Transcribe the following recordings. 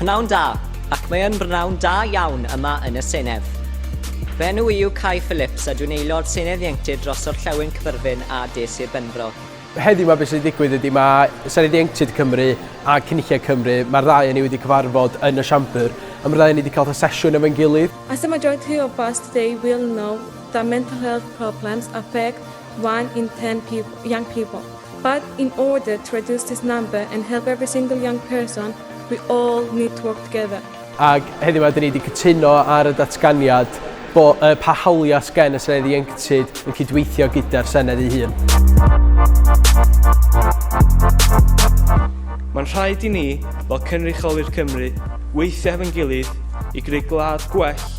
Pnawn da, ac mae yn brnawn da iawn yma yn y Senedd. Fy enw i yw Cai Phillips a dwi'n aelod Senedd Ieuenctid dros Orllewin Cyfyrddin a De Sir Benfro. Heddiw mae beth sydd wedi digwydd ydy mae Senedd Ieuenctid Cymru a Cynulliad Cymru, mae'r ddau yn ei wedi cyfarfod yn y siambr, a mae'r ddau yn ei wedi cael sesiwn efo'n gilydd. As a majority of us today will know that mental health problems affect one in ten people, young people, but in order to reduce this number and help every single young person, we all need to work together. Ac heddiw yma, dyn ni wedi cytuno ar y datganiad bo, uh, pa hawliau sgen y Senedd Ieuenctid yn cydweithio gyda'r Senedd ei hun. Mae'n rhaid i ni, fel cynrychiolwyr Cymru, weithio hefo'n gilydd i greu gwlad gwell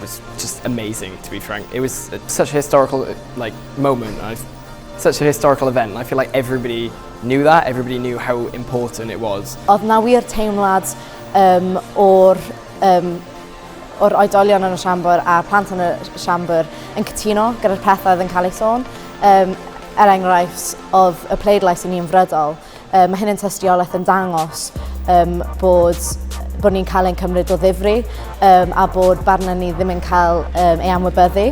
was just amazing to be frank. It was such a historical like moment. I such a historical event. I feel like everybody knew that. Everybody knew how important it was. Oedd na wir teimlad um, o'r um, o'r oedolion yn y siambr a'r plant yn y siambr yn cytuno gyda'r pethau oedd yn cael ei sôn. Um, er enghraifft, oedd y pleidlais i ni yn frydol. Um, mae hyn yn tystiolaeth yn dangos um, bod bod ni'n cael ein cymryd o ddifri um, a bod barna ni ddim yn cael um, ei anwybyddu.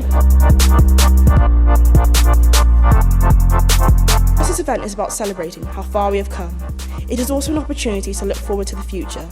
This event is about celebrating how far we have come. It is also an opportunity to look forward to the future.